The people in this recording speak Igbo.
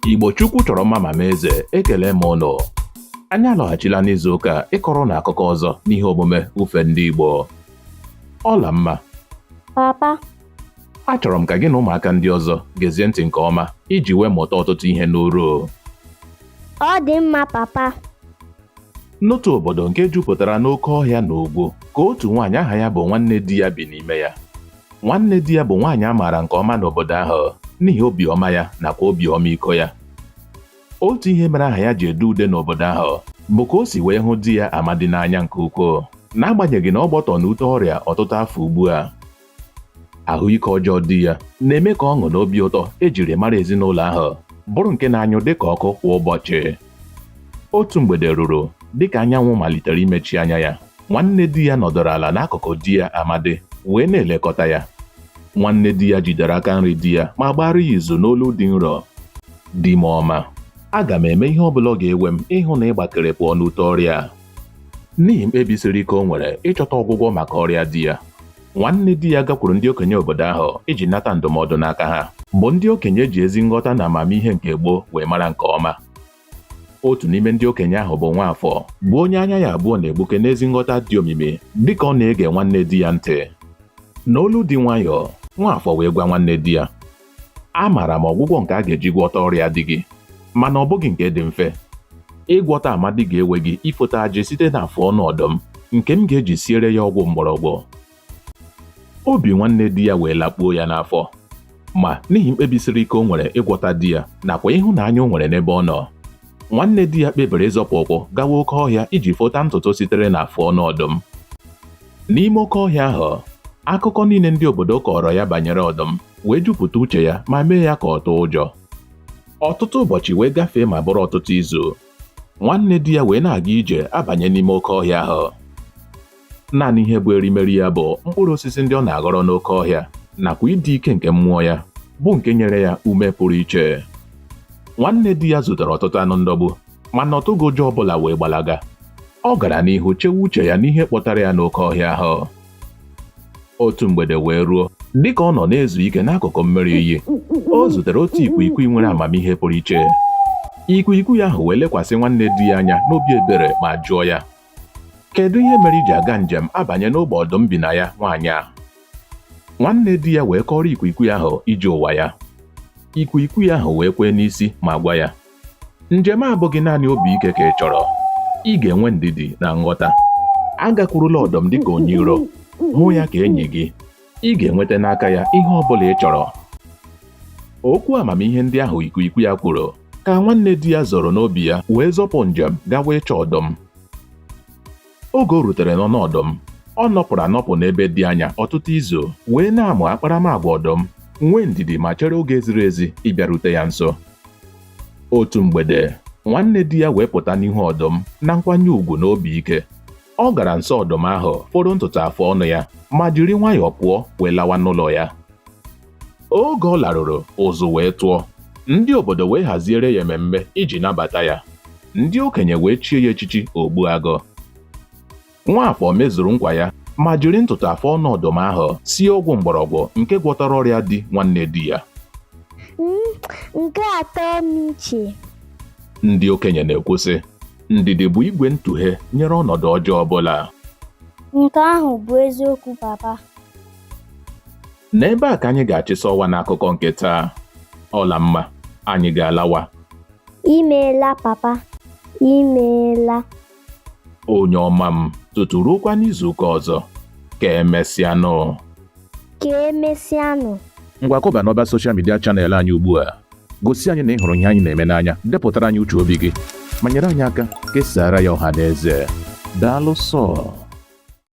Igbo Chukwu chọrọ mma ma mee eze ekele m ụnụ anyị alọghachila n'izu ụka a ịkọrọ ụnụ akụkọ ọzọ n'ihe omume ufe ndị Igbo Ọlamma papa achọrọ m ka gị na ụmụaka ndị ọzọ gezie ntị nke ọma iji wee mụta ọtụtụ ihe n'uru ọ dị mma papa n'otu obodo nke jupụtara n'oke ọhịa na ugwu ka otu nwaanyị aha ya bụ Nwannediya bi n'ime ya Nwannediya bụ nwaanyị a maara nke ọma n'obodo ahụ n'ihi obiọma ya nakwa obi ọmịiko ya. Otu ihe mere aha ya ji ede ude n'obodo ahụ bụ ka o si wee hụ di ya Amadi n'anya nke ukwuu n'agbanyeghị na ọ gbọtọ n'ute ọrịa ọtụtụ afọ ugbu a. Ahụike ọjọọ di ya na-eme ka ọṅụ na obi ụtọ ejiri mara ezinụlọ ahụ bụrụ nke na-anyụ dịka ọkụ kwa ụbọchị. Otu mgbede ruru dịka anyanwụ malitere imechi anya ya, Nwannediya nọdụrụ ala n'akụkụ di ya Amadi wee na-elekọta ya. Nwannediya jidere aka nri di ya ma gbaara ya izu n'olu dị nro. Di m ọma, aga m eme ihe ọ bụla ọ ga-ewe m ịhụ na ị gbakere pụọ n'ute ọrịa a. N'ihi mkpebi siri ike o nwere ịchọta ọgwụgwọ maka ọrịa di ya, Nwannediya gakwuru ndị okenye obodo ahụ iji nata ndụmọdụ n'aka ha, bụ ndị okenye e ji ezi nghọta na amamihe nke gboo wee mara nke ọma. otu n'ime ndị okenye ahụ bụ Nwafọ bụ onye anya ya abụọ na-egbuke n'ezi nghọta dị omimi dịka ọ na-ege Nwannediya ntị n'olu dị nwayọọ Nwafọ wee gwa Nwannediya amaara m ọgwụgwọ nke a ga-eji gwọta ọrịa di gị mana ọ bụghị nke dị mfe ịgwọta Amadi ga-ewe gị ifota ajị site n'afọ ọnụ ọdụm nke m ga-eji siere ya ọgwụ mgbọrọgwụ obi Nwannediya wee lakpuo ya n'afọ ma n'ihi mkpebi siri ike o nwere ịgwọta di ya nakwa ịhụnanya o nwere n'ebe ọ nọ Nwannediya kpebiri ịzọpụ ụkwụ gawa oke ọhịa iji fota ntutu sitere n'afọ ọnụ ọdụm n'ime oke ọhịa ahụ akụkọ niile ndị obodo kọọrọ ya banyere ọdụm wee jupụta uche ya ma mee ya ka ọ tụọ ụjọ ọtụtụ ụbọchị wee gafee ma bụrụ ọtụtụ izu Nwannediya wee na-aga ije abanye n'ime oke ọhịa ahụ naanị ihe bụ erimeri ya bụ mkpụrụ osisi ndị ọ na-aghọrọ n'oke ọhịa nakwa ịdị ike nke mmụọ ya bụ nke nyere ya ume pụrụ iche Nwannediya zutere ọtụtụ anụ ndọgbu mana ọ tụghị ụjọ ọbụla wee gbalaga ọ gara n'ihu chewe uche ya n'ihe kpọtara ya n'oke ọhịa ahụ otu mgbede wee ruo dịka ọ nọ na-ezu ike n'akụkụ mmiri iyi o zutere otu ikwikwii nwere amamihe pụrụ iche ikwikwii ahụ wee lekwasị Nwannediya anya n'obi ebere ma jụọ ya Kedu ihe mere i ji aga njem abanye n'ọgba ọdụm bi na ya nwaanyị ahụ? Nwannediya wee kọọrọ ikwikwii ahụ ije ụwa ya. Ikwikwii ahụ wee kwee n'isi ma gwa ya, Njem a abụghị naanị obi ike ka ị chọrọ. Ị ga-enwe ndidi na nghọta. Agakwurula ọdụm dịka onye iro, hụ ya ka enyi gị. ị ga-enweta n'aka ya ihe ọ bụla ị chọrọ okwu amamihe ndị ahụ ikwiikwi ya kwuru ka nwannediya zoro n'obi ya wee zọpụ njem gawa ịchọ ọdụm oge o rutere n'ọnụ ọdụm ọ nọpụrụ anọpụ n'ebe dị anya ọtụtụ izu wee na-amụ akparamagwa ọdụm nwee ndidi ma chere oge ziri ezi ịbịarute ya nso otu mgbede nwannediya wee pụta n'ihu ọdụm na nkwanye ugwu na obi ike ọ gara nso ọdụm ahụ foro ntutu afọ ọnụ ya ma jiri nwayọọ pụọ wee lawa n'ụlọ ya oge ọ laruru ụzụ wee tụọ ndị obodo wee haziere ya ememme iji nabata ya ndị okenye wee chie ya echichi ogbuagụ nwafọ mezuru nkwa ya ma jiri ntutu afọ ọnụ ọdụm ahụ sie ọgwụ mgbọrọgwụ nke gwọtara ọrịa di nwannediya nke atọ m iche ndị okenye na-ekwu sị Ndidi bụ igwe ntụghe nyere ọnọdụ ọjọọ ọbụla. Nke ahụ bụ eziokwu papa. N'ebe a ka anyị ga-achịsa ọwa n'akụkọ nke taa. Ọlamma, anyị ga-alawa. Imeela papa, imeela. Onye ọma m, tutu ruokwa n'izuụka ọzọ. Ka emesịanụ. ka emesịanụ ngwa kọba n'ọba soshal midia chanel anyị ugbu a gosi anyị na ị hụrụ ihe anyị na-eme n'anya depụtara anyị uche obi gị ma nyere anyị aka kesaara ya ọha na eze daalụ sọ